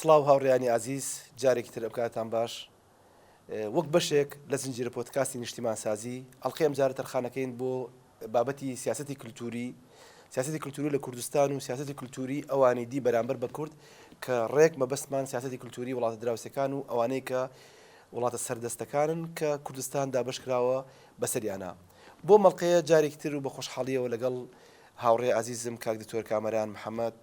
سڵاو هاوڕێیانی ئازیز، جارێکی تر ئەوکاتتان باش. وەک بەشێک لە زنجیرە پۆدکاستی نیشتیمانسازی، ئەڵقەی ئەمجارە تەرخانەکەین بۆ بابەتی سیاسەتی کلتووری، سیاسەتی کلتووری لە کوردستان و سیاسەتی کلتووری ئەوانی دی بەرامبەر بە کورد کە ڕێک مەبەستمان سیاسەتی کلتووری وڵاتە دراوسێکان و ئەوانەی کە وڵاتە سەردەستەکانن کە کوردستان دابەش کراوە بەسەریانا. بۆم ئەڵقەیە جارێکی تر و بە خۆشحاڵییەوە لەگەڵ هاوڕێ ئازیزم کاک دکتۆر کامەران محەمەد،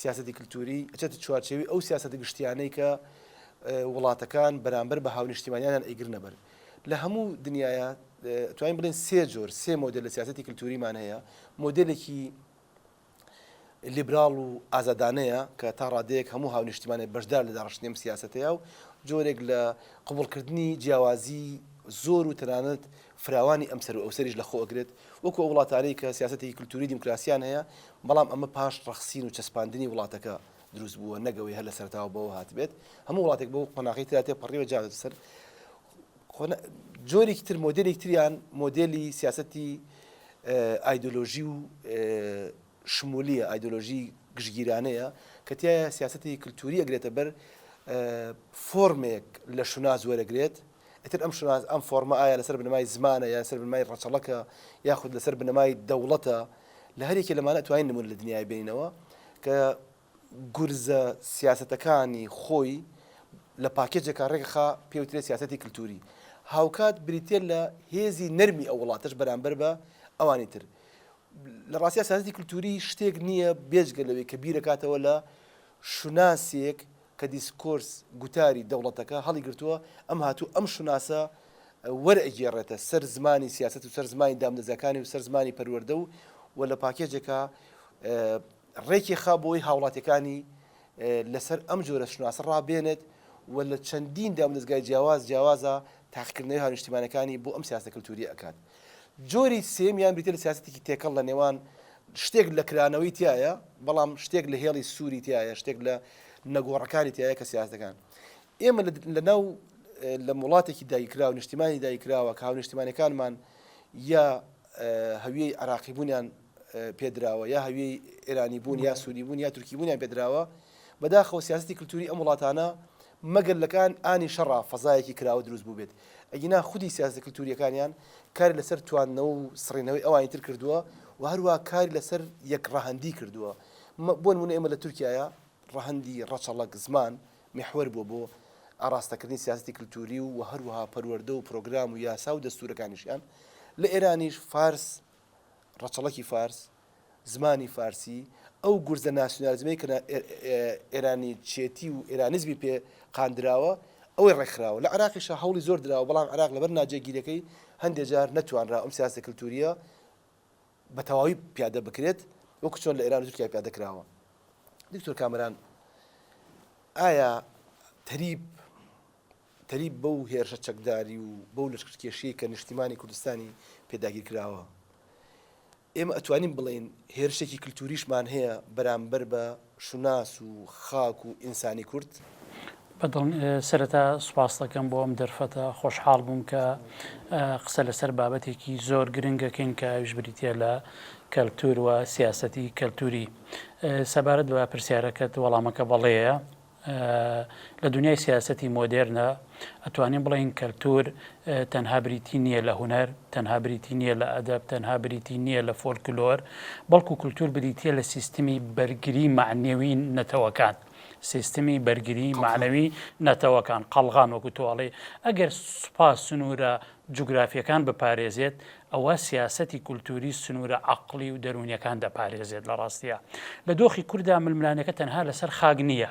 سیاسەتی کلتووری ئەچێتە چوارچێوی ئەو سیاسەتە گشتیانەی کە وڵاتەکان بەرامبەر بە هاونیشتیمانیانیان ئەیگرنە بەر لە هەموو دنیاە توانین بڵێن سێ جۆر سێ مۆدل لە سیاستی کللتوریمان هەیە مۆدلێکی لیبرال و ئازادانەیە کە تا ڕادەیەک هەموو هاونیشتمانێ بەشدار لە داڕشتنیم سیاستەیە و جۆرێک لە قوبڵکردنی جیاوازی زۆر و تەنانەت فراوانی ئەمسەر و ئەوسەریش لەخۆ ئەگرێت وەکو ئەو وڵاتانەی کە سیاسەتێکی کلتوری دیموکراسیان هەیە، بەڵام ئەمە پاش ڕەخسین و چەسپاندنی وڵاتەکە دروست بووە نەک ئەوەی هەر لە سەرەتاوە بەوە هاتبێت، هەموو وڵاتێک بەو قۆناغەی تێدا تێپەڕیوە جا بێتە سەر قۆنا جۆرێکی تر مۆدێلێکی تریان مۆدێلی سیاسەتی ئایدۆلۆژی و شمولیە، ئایدۆلۆژی گشتگیرانەیە کە تیایا سیاسەتی کلتوری ئەگرێتە بەر، فۆرمێک لە شوناس وەرەگرێت، ئیتر ئەم شوناس ئەم فۆرمە ئایا لەسەر بنەمای زمانە یا لەسەر بنەمای ڕەچەڵەکە یاخود لەسەر بنەمای دەوڵەتە، لە هەر یەکێ لەمانە ئەتوانین نمونە لە دنیایا بێنینەوە کە گورزە سیاسەتەکانی خۆی لە پاکێجێکا ڕێکخا پێی وترێ سیاسەتی کلتووری، هاوکات بریتییە لە هێزی نەرمی ئەو وڵاتەش بەرامبەر بە ئەوانی تر. لە ڕاستیا سیاسەتی کلتووری شتێک نییە بێجگە لەوەی کە بیرەکاتەوە لە شوناسێک کە دیسکۆرس، گوتاری، دەوڵەتەکە هەڵیگرتووە، ئەم هاتوو ئەم شوناسە وەرئەگێڕێتە سەر زمانی سیاسەت و سەر زمانی دامدەزەکانی و سەر زمانی پەروەردە و و لە پاکێجێکا ڕێکی خا بۆی هاوڵاتیەکانی لەسەر ئەم جۆرە شوناسە ڕابێنێت و لە چەندین دامودەزگای جیاواز جیاوازە تاقیکردنەوەی هاونیشتیمانەکانی بۆ ئەم سیاسەتە کلتووریە ئەکات. جۆری سێمیان بریتیە لە سیاسەتێکی تێکەڵ لە نێوان شتێک لە کرانەوەی تایە بەڵام شتێک لە هێڵی سووری تایە شتێک لە نەگۆڕەکانی تایە کە سیاسەکان ئێمە لە ناو لە وڵاتێکی دایکرا و نیشتیمانی دایکراوە کە هاونیشتیمانەکانمان یا هەویەی عراقیبوونیان پێدراوە یا هەویەی ئێرانی بوون یا سوری بوون یا تورکی بوونیان پێدراوە بەداخەوە سیاستی کللتوری ئەم وڵاتانە مەگەر لەکان ئانی شەڕا فەزایەکی کراوە دروست بوو بێت ئەگینا خودی سیاسی کللتوریەکانیان کار لەسەر تواندنەوە و سڕینەوەی ئەوانی تر کردووە و هەروە کاری لەسەر یەک ڕەهندی کردووە بۆن منە ئێمە لە تورکایە ڕەهندی ڕەچەڵک زمان محور بوو بۆ ئاراستەکردنی سیاستی کللتوری و هەروەها پەروەەردە و پرۆگرام و یاسا و دەستورەکانیشیان لە ئێرانیش فارس ڕەچەڵەکی فارس، زمانی فارسی، ئەو گورزە ناسیونالیزمەی کە ئێرانیچێتی و ئێرانیزمی پێ قاندراوە، ئەوەی ڕێکخراوە. لە عێراقیشا هەوڵی زۆر دراوە، بەڵام عێراق لەبەر ناجێگیرییەکەی هەندێ جار نەتوانرا ئەم سیاسەتە کلتوورییە بە تەواوی پیادە بکرێت، وەکو چۆن لە ئێران و تورکیا پیادە کراوە. دکتۆر کامەران، ئایا تەریب تەریب بەو هێرشە چەکداری و بەو لەشکرکێشیەی کە نیشتیمانی کوردستانی پێداگیر کراوە ئێمە ئەتوانین بڵێین هێرشێکی کللتوریشمان هەیە بەرامبەر بە شوناس و خاک و ئینسانی کورد بەدڵ سرەتا سوپاس دەکەم بۆ ئەم دەرفەتە خۆشحاڵ بووم کە قسە لەسەر بابەتێکی زۆر گرنگەکەین کە ئەوش بریتە لە کەلتور و سیاستی کەلتوری سەبارەت بە پرسیارەکەت وەڵامەکە بەڵەیە لە دونیای سیاسەتی مۆدێرنە ئەتوانین بڵێین کەلتور تەنها بریتی نییە لە هونەر، تەنها بریتی نییە لە ئەدەب، تەنها بریتی نییە لە فۆلکلۆر، بەڵکو کولتور بریتییە لە سیستمی بەرگری مەعنەوی نەتەوەکان، سیستمی بەرگری مەعنەوی نەتەوەکان، قەڵغان وەکو تۆ ئەڵێی ئەگەر سوپا سنورە جوگرافییەکان بپارێزێت، ئەوا سیاسەتی کولتووری سنوورە عەقڵی و دەروونییەکان دەپارێزێت. لە ڕاستیدا لە دۆخی کوردا ململانێکە تەنها لەسەر خاک نییە،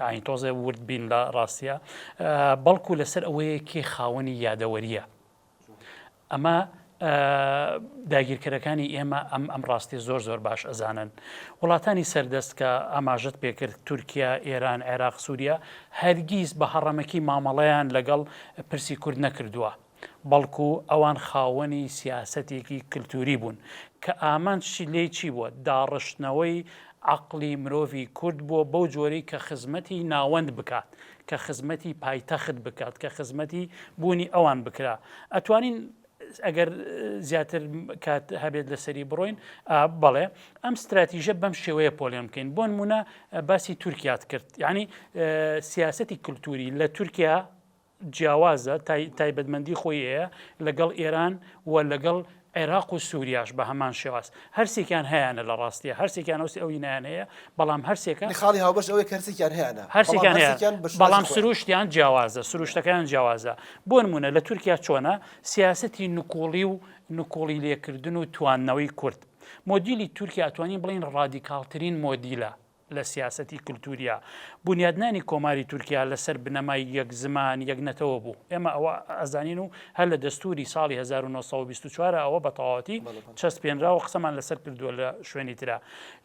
ئاین تۆزێ ورد بین لە ڕاستیدا، بەڵکو لەسەر ئەوەیە کێ خاوەنی یادەوەرییە. ئەمە داگیرکەرەکانی ئێمە ئەم ئەم ڕاستیە زۆر زۆر باش ئەزانن. وڵاتانی سەردەست کە ئاماژەت پێکرد، تورکیا، ئێران، عێراق، سووریا، هەرگیز بە هەڕەمەکی مامەڵەیان لەگەڵ پرسی کورد نەکردووە، بەڵکو ئەوان خاوەنی سیاسەتێکی کلتوری بوون کە ئامانجی لێی چی بووە؟ داڕشتنەوەی عەقڵی مرۆڤی کورد بووە بەو جۆرەی کە خزمەتی ناوەند بکات، کە خزمەتی پایتەخت بکات، کە خزمەتی بوونی ئەوان بکرا. ئەتوانین ئەگەر زیاتر کات هەبێت لەسەری بڕۆین بەڵێ ئەم ستراتیژە بەم شێوەیە پۆلیان بکەین بۆن مونە باسی تورکات کرد یعنی سیاستی کللتوری لە تورکیا جیاوازە تایبەتمەندی خۆی ئەیە لەگەڵ ئێران و لەگەڵ عێراق و سووریاش بە هەمان شێواز هەرسێکیان هەیانە لە ڕاستیە هەرسێکیان ئەوسی ئەوی نان هەیە بەڵام هەرسێکە خاڵی هاوبەش ئەوەی کەرسێکیان هەیەە هەرسێکیان بەڵام سروشتیان جیاوازە سروشتەکان جیاوازە بۆ نمونە لە تورکیا چۆنە سیاستی نکۆڵی و نکۆڵی لێکردن و توانەوەی کورد مۆدیلی تورکیا توانین بڵین ڕادیکالترین مۆدیلە لە سیاسەتی کلتورییا. بونیادنانی کۆماری تورکیا لە سەر بنەمای یەک زمان، یەک نەتەوە بوو. ئێمە ئەوە ئەزانین و هەر لە دەستوری ساڵی هەزار و نۆ سەد و بیست و چوار ئەوە بە تەواوەتی چەسپێنرا و قسەمان لە سەر کردووە لە شوێنی ترا.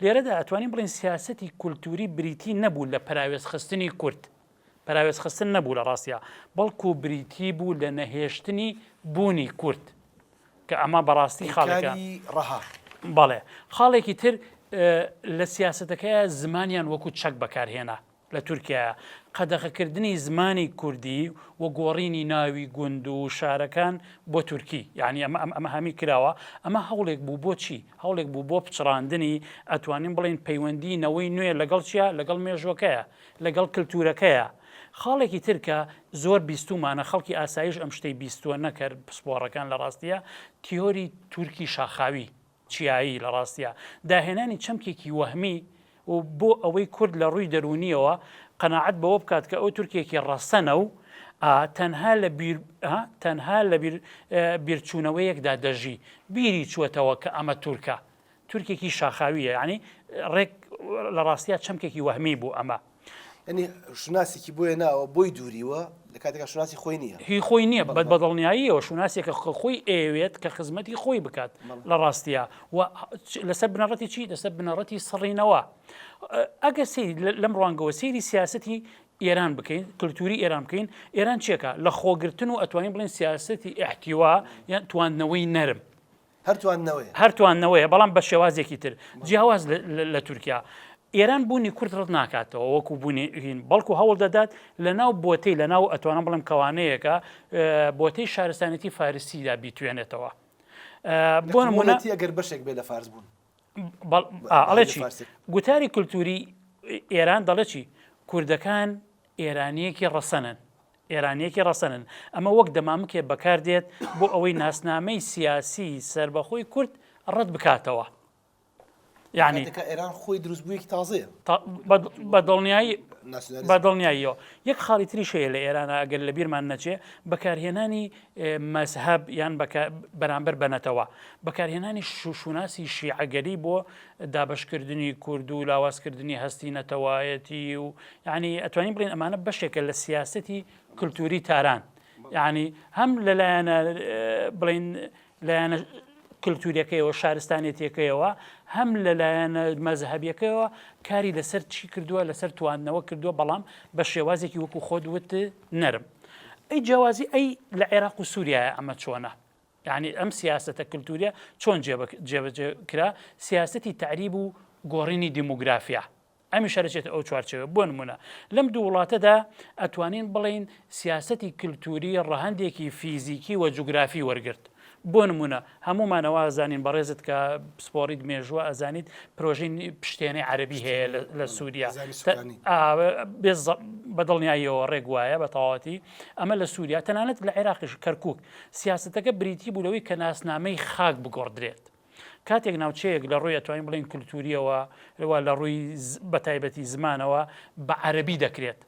لێرەدا ئەتوانین بڵێین سیاسەتی کلتوری بریتی نەبوو لە پەراوێزخستنی کورد. پەراوێزخستن نەبوو لە ڕاستیا، بەڵکو بریتی بوو لە نەهێشتنی بوونی کورد، کە ئەمە بە ڕاستی خاڵێکە. پەیکاری ڕەها. بەڵێ. خاڵێکی تر لە سیاسەتەکەیا زمانیان وەکو چەک بەکارهێنا لە تورکیایا. قەدەغەکردنی زمانی کوردی و گۆڕینی ناوی گوند و شارەکان بۆ تورکی. یانی ئەمە ئەم ئەمە هەمی کراوە. ئەمە هەوڵێک بوو بۆ چی؟ هەوڵێک بوو بۆ پچڕاندنی ئەتوانین بڵێین پەیوەندی نەوەی نوێ لەگەڵ چیا؟ لەگەڵ مێژووەکەیا. لەگەڵ کلتورەکەیە خاڵێکی تر کە زۆر بیستومانە خەڵکی ئاسایش ئەم شتەی بیستوە نەکەر پسپۆڕەکان لە ڕاستیا تیۆری تورکی شاخاوی چیایی لە ڕاستیا داهێنانی چەمکێکی وەهمی و بۆ ئەوەی کورد لە ڕووی دەرونیەوە قەناعەت بەوە بکات کە ئەو تورکێکی ڕەسەنە و تەنها لە بیر تەنها لە بیر بیرچونەوەیەکدا دەژی بیری چوەتەوە کە ئەمە تورکە تورکێکی شاخاویە ینی ڕێک لە ڕاستە چەمکێکی وەهمی بوو ئەمە ئەنی شوناسێکی بۆیە ناوە بۆی دووریوە لە کاتێکا شوناسی خۆی نییە هی خۆی نییە بەت بەدڵنیاییەوە شوناسێکە خە خۆی ئەوێت کە خزمەتی خۆی بکات لە ڕاستە و لەسەر بنەڕەتی چی لەسەر بنەڕەتی سڕینەوە ئەگەر سی لەم ڕوانگەوە سێری سیاستی ئێران بکەین کللتوری ئێران بکەین ئێران چێکە لە خۆگرتن و ئەتوانین بڵین سیاستی ئەحتیوا یان تواندنەوەی نەرم هەر تواندنەوەیە. هەر تواندنەوەیە بەڵام بە شێوازێکی تر جیاواز لە تورکیا. ئێران بوونی کورد ڕەت ناکاتەوە وەکو بوونی هین بەڵکو هەوڵ دەدات لە ناو بۆتەی لە ناو ئەتوانم بڵێم کەوانەیەکە بۆتەی شارستانێتی فارسیدا بیتوێنێتەوە. بۆ نمونە. یەکەگەر بەشێک بێ لە فارس بوون. ئەڵێکی گوتاری کولتوری ئێران دەڵێکی کوردەکان ئێرانیەکی ڕەسەنن ئێرانیەکی ڕەسەنن ئەمە وەک دەمامکێ بەکاردێت بۆ ئەوەی ناسنامەی سیاسی سربەخۆی کورد ڕەت بکاتەوە یعنی ئێران خۆی دروستبوویەکی تازەیە بە دڵنیایی بە دڵنیاییەوە یەک خاڵی تری شەیە لە ئێرانە ئەگەر لە بیرمان نەچێ بەکارهێنانی مەزهەب یان بەرامبەر بە نەتەوە. بەکارهێنانی شوناسی شیعەگەری بۆ دابەشکردنی کورد و لاوازکردنی هەستی نەتەوایەتی و یعنی ئەتوانین بڵین ئەمانە بەشێکە لە سیاستی کللتوری تاران یعنی هەم لەلایەنە بڵین لایەنە کللتوریەکەیەوە شارستانێتیەکەیەوە هەم لەلایەنە مەزهبیەکەیەوە کاری لەسەر چی کردووە لەسەر تواندنەوە کردووە بەڵام بە شێوازێکی وەکو خۆت وت نەرم ئەی جیاوازی ئەی لە عێراق و سووریایە ئەمە چۆنە یعنی ئەم سیاستە کللتوریە چۆن جێبەجێ کرا سیاستی تعریب و گۆڕینی دیموگرافیا ئەمی شارچێت ئەو چوارچەوە بۆ نمونە لەم دوو وڵاتەدا ئەتوانین بڵین سیاستی کللتوری ڕەهندێکی فیزیکی و جوگرافی وەرگرت بۆ نمونە هەموومان ئەوە ئەزانین بەڕێزت کە پسپۆڕیت مێژووە ئەزانیت پرۆژین پشتێنەی عەربی هەیە لە سووریا بەدڵنیاییەوە ڕێک وایە بە تەواتی ئەمە لە سووریا تەنانەت لە عێراقیش کەرکک سیاستەکە بریتی بوو لەوەی کە ناسنامەی خاک بگۆڕدرێت. کاتێک ناوچەیەک لە ڕووی ئەتوانین بڵین کللتوریەوە لەوە لە ڕووی بەتایبەتی زمانەوە بە عەربی دەکرێت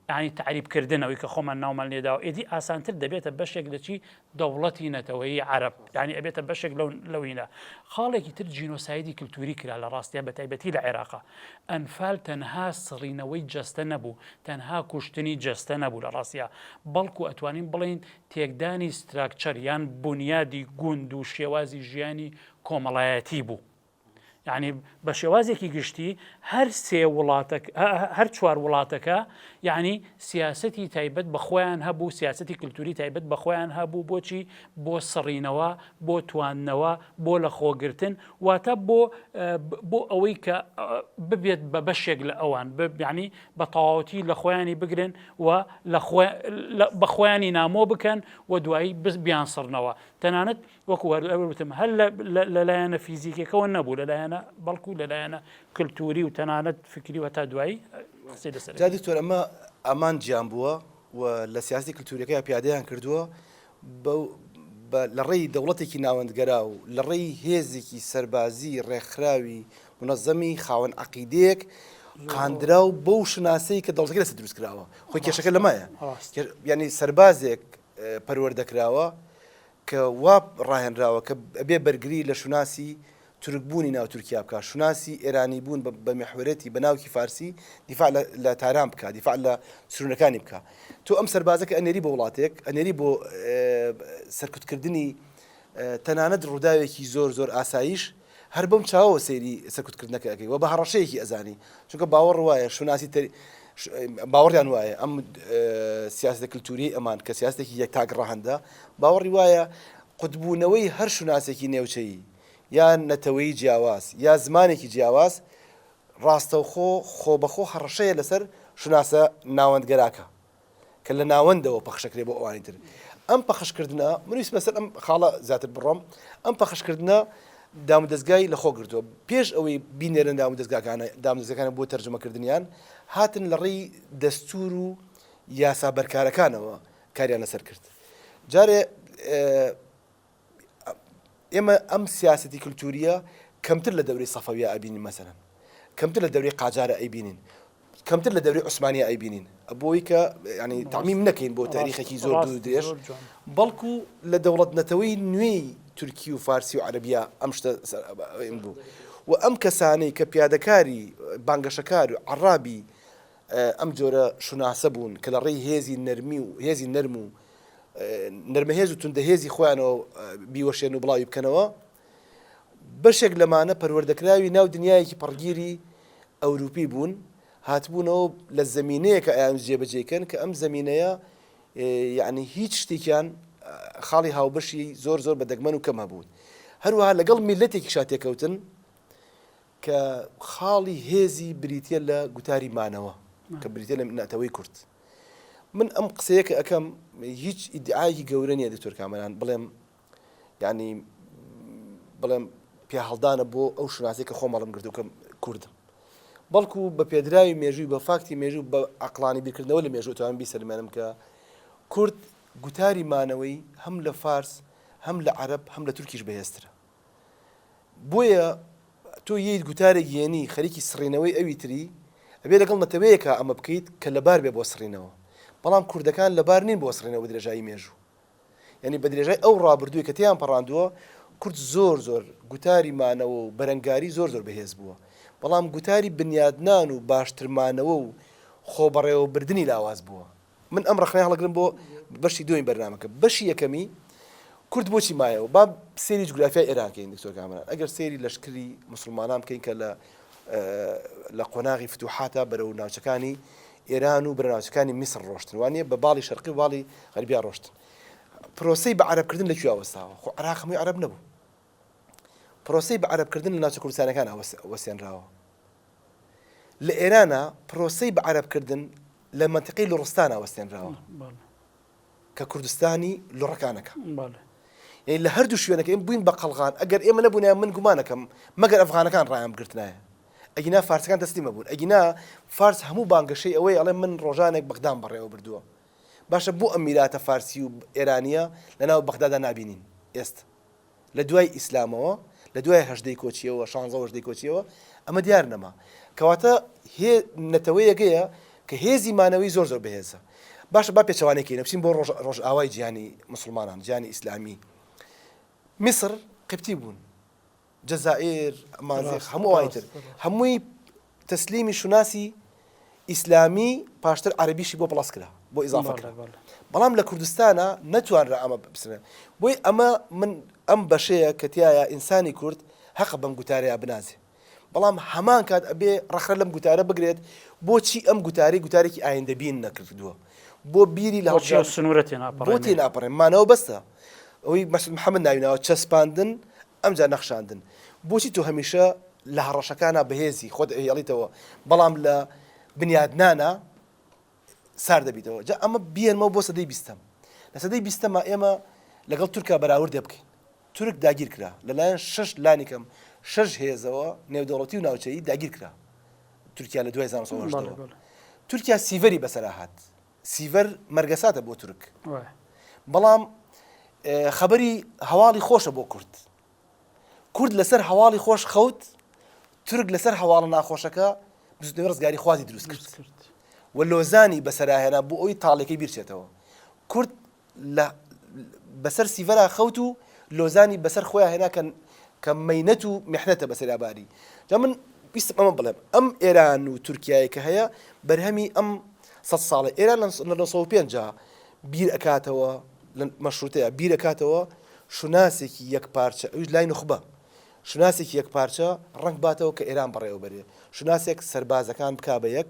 یانی تەعریب کردن ئەوی کە خۆمان ناومان لێداوە ئێدی ئاسانتر دەبێتە بەشێک لەچی دەوڵەتی نەتەوەیی عرب ینی ئەبێتە بەشێک لەو لەوینە خاڵێکی تر جینۆسایدی کللتوری کرا لە ڕاستە بە تایبەتی لە عێراقا ئەنفال تەنها سڕینەوەی جەستە نەبوو تەنها کوشتنی جەستە نەبوو لە ڕاستە بەڵکو ئەتوانین بڵین تێکدانی ستراکچەر یان بنیادی گوند و شێوازی ژیانی کۆمەڵایەتی بوو یعنی بە شێوازێکی گشتی هەر سێ وڵاتە هەر چوار وڵاتەکە یعنی سیاستی تایبەت بە خۆیان هەبوو سیاستی کللتوری تایبەت بە خۆیان هەبوو بۆچی بۆ سڕینەوە بۆ تواندنەوە بۆ لە خۆگرتن واتە بۆ بۆ ئەوەی کە ببێت بە بەشێک لە ئەوان ببیانی بە تەواوەتی لە خۆیانی بگرن و بە خۆیانی نامۆ بکەن و دوایی بز بیان سڕنەوە تەنانەت وەکو هەر ئەوە وتم هەر لە لایەنە فیزیکەکەەوە نەبوو لە لایەنە بەڵکو لە لایەنە کللتوری و تەنانەت فکری و هەتا دوایی قسەی لەسەر جا دکتۆر ئەمە ئەمان جیان بووە و لە سیاسی کللتوریەکە پیادیان کردووە لە ڕێی دەوڵەتێکی ناوەندگەرا و لە ڕێی هێزێکی سەربازی ڕێکخراوی منەزەمی خاوەن عقیدەیەک قاندرا و بەو شناسەی کە دەڵگە لەسە دروست کراوە خۆی کێشەکە لەمایە ینی سەربازێک پەروەەردەکراوە کە وا ڕاهێنراوە کە ئەبێ بەرگری لە شوناسی تورک بوونی ناو تورکیا بکا، شوناسی ئێرانی بوون بە میحوەرێتی بە ناوکی فارسی دیفاع لە لە تاران بکا، دیفاع لە سروونەکانی بکا. تۆ ئەم سەربازە کە ئەنێری بۆ وڵاتێک، ئەنێری بۆ سەرکوتکردنی تەنانەت ڕووداوێکی زۆر زۆر ئاساییش، هەر بەم چاوەوە سەیری سەرکوت کردنەکە ئەکەی و بە هەڕەشەیەکی ئەزانی چونکە باوەڕ وایە شوناسی تەر باوەڕیان وایە ئەم سیاستە کللتوری ئەمان کە سیاستێکی یەک تاک ڕەهندە باوەڕی وایە قوتبوونەوەی هەر شوناسێکی نێوچەیی یان نەتەوەی جیاواز یا زمانێکی جیاواز ڕاستەوخۆ خۆ بەخۆ هەڕەشەیە لەسەر شوناسە ناوەندگەراکە کە لە ناوەندەوە پەخشەکرێ بۆ ئەوانی تر ئەم پەخشکردنە منویست بەسەر ئەم خاڵە زیاتر بڕۆم ئەم پەخشکردنە دام دەستگای لە خۆ گرتووە پێش ئەوەی بینێرن دام دەستگاکانە دام دەستەکانە بۆ تەرجمەکردنیان هاتن لە ڕێی دەستور و یاسا بەرکارەکانەوە کاریان لەسەر کرد جارێ ئێمە ئەم سیاسەتی کللتوریە کەمتر لە دەوری سەفەویە ئەبینین مەسەن کەمتر لە دەوری قاجارە ئەیبینین کەمتر لە دەوری عوسمانی ئەیبینین بۆی کە ینی تامیم نەکەین بۆ تاریخێکی زۆر دوور درێژ بەڵکو لە دەوڵەت نەتەوەی نوێی تورکی و فارسی و عەربیا ئەم شتە بوو و ئەم کەسانەی کە پیادەکاری بانگەشەکار و عڕابی ئەم جۆرە شوناسە بوون کە لە ڕێی هێزی نەرمی و هێزی نەرم و نەرمەهێز و توندەهێزی خۆیانەوە بیوەشێن و بڵاوی بکەنەوە، بەشێک لەمانە پەروەردەکراوی ناو دنیایەکی پەڕگیری ئەوروپی بوون، هاتبوونەوە و لە زەمینەیەکە ئەیانویست جێبەجێی کەن کە ئەم زەمینەیە یەعنی هیچ شتێکیان خاڵی هاوبەشی زۆر زۆر بە دەگمەن و کەم هەبوون، هەروەها لەگەڵ میللەتێکیشا تێکەوتن، کە خاڵی هێزی بریتیە لە گوتاری مانەوە کە بریتیە لە نەتەوەی کورد. من ئەم قسەیە کە ئەکەم هیچ ئیدعایەکی گەورە نیە دکتۆر کامەران بڵێم یعنی بڵێم پیاهەڵدانە بۆ ئەو شوناسی کە خۆم هەڵم گرتو کە کوردم بەڵکو بە پێدراوی مێژووی بە فاکتی مێژوو بە عقلانی بیرکردنەوە لە مێژوو توان بیسەلمێنم کە کورد گوتاری مانەوەی هەم لە فارس هەم لە عەرب هەم لە تورکیش بەهێزترە بۆیە تۆ یەیت گوتارێک یەنی خەریکی سڕینەوەی ئەوی تری ئەبێ لەگەڵ نەتەوەیەکا ئەمە بکەیت کە لەبار بێ بۆ سڕینەوە بەڵام کوردەکان لەبار نین بۆ سڕینەوە بەدرێژایی مێژوو یەنی بەدرێژای ئەو ڕابردووی کە تێیان پەڕاندووە کورد زۆر زۆر گوتاری مانەوە و بەرەنگاری زۆر زۆر بەهێز بووە بەڵام گوتاری بنیادنان و باشتر مانەوە و خۆبەڕێوەبردنی لاواز بووە. من ئەم ڕەخنەیە هەڵەگرم بۆ بەشی دووەمی بەرنامەکە بەشی یەکەمی کورد بۆچی مایەوە با سێری جوگرافیای ئێران کەین دکتۆر کامەران ئەگەر سێری لەشکری مسلمانان بکەین کە لە لە قۆناغی فتوحاتە بەرەو ناوچەکانی ئێران و برناوچەکانی میسر ڕۆشتن وانە بە باڵی شەرقی باڵی غەربیا ڕۆشتن پرۆسی بە عربکردن لە کوێ وەستاوە خۆ عراق هەمووی عرب نەبوو پرۆسەی بە عەرەب کردن لە ناوچە کوردستانیەکانا وەسێنراوە لە ئێرانا پرۆسەی بە عەرەب کردن لە منتقی لوڕستانا وەسێنراوە کە کوردستانی لوڕەکانەکە یعنی لە هەردوو شوێنەکە ئێم بووین بە قەلغان ئەگەر ئێمە نەبوونە من گومانەکەم مەگەر ئەفغانەکان ڕایان بگرتنایە ئەگینا فارسەکان تەسلیمە بوون ئەگینا فارس هەموو بانگەشەی ئەوەی ئەڵێ من ڕۆژانێک بەغدام بەڕێوە بردووە باشە بۆ ئەم میراتە فارسی و ئێرانیە لەناو بەغدادا نبینین ئێست لە دوای ئیسلامەوە، لە دوای هەژدەی کۆچییەوە، شانزە هەژدەی کۆچییەوە، ئەمە دیار نەما. کەواتە هێ نەتەوەیەگەیە کە هێزی مانەوەی زۆر زۆر بەهێزە. باشە با پێچەوانەی کەینە بچین بۆ ڕۆژ ڕۆژئاوای جیهانی موسڵمانان، جیهانی ئیسلامی. میسر قبطی بوون. جەزائیر، مازیغ، هەموو ئەوانی تر هەمووی تەسلیمی شوناسی ئیسلامی پاشتر عەرەبیشی بۆ پڵەس کرا بۆ ئیزافە کرا بەڵام لە کوردستانە نەتوانرا ئەمە بسنێ بۆی ئەمە من ئەم بەشەیە کە تایە ئینسانی کورد هەقە بەم گوتارەیە بنازێ بەڵام هەمان کات ئەبێ ڕەخرە لەم گوتارە بگرێت بۆچی ئەم گوتاری گوتارێکی ئایندەبین نەکردووە بۆ بیری لە هەڵچی سنوورەتی ناپڕێ بۆ تێ ناپڕێ مانەوە بەستە ئەوی مەسل محەممەد ناویناوە چەسپاندن ئەمجا نەخشاندن بۆچی تۆ هەمیشە لە هەڕەشەکانا بەهێزی خۆت ئەهێڵیتەوە بەڵام لە بنیادنانا سارد دەبیتەوە جا ئەمە بیێنمەوە بۆ سەدەی بیستەم لە سەدەی بیستەما ئێمە لەگەڵ تورکا بەراوردێ بکەین تورک داگیر کرا لەلایەن شش لانیکەم شش هێزەوە نێودەوڵەتی و ناوچەیی داگیر کرا تورکیا لە دوای زانسەوە تورکیا سیڤەری بەسەرا هات سیڤەر مەرگەساتە بۆ تورک بەڵام خەبەری هەواڵی خۆشە بۆ کورد کورد لەسەر هەواڵی خۆش خەوت تورک لەسەر هەواڵە ناخۆشەکە بزنەوە ڕزگاری خوازی دروست کرد و لۆزانی بەسەراهێنا بۆ ئەوی تاڵێکی بیرچێتەوە کورد لە بەسەر سیڤەرا خەوت و لۆزانی بەسەر خۆیان هێنا کە کە مەینەت و میحنەتە بەسەریا باری جا من ویستم ئەمە بڵێم ئەم ئێران و تورکیایە کە هەیە بەرهەمی ئەم سەد ساڵە ئێران لە 1950 بیر ئەکاتەوە لە مەشروتەیە بیر ئەکاتەوە شوناسێکی یەک پارچە ئەوش لای نخبە شوناسێکی یەک پارچە ڕنگ باتەوە کە ئێران بەڕێوەبەرێ شوناسێک سەربازەکان بک بە یەک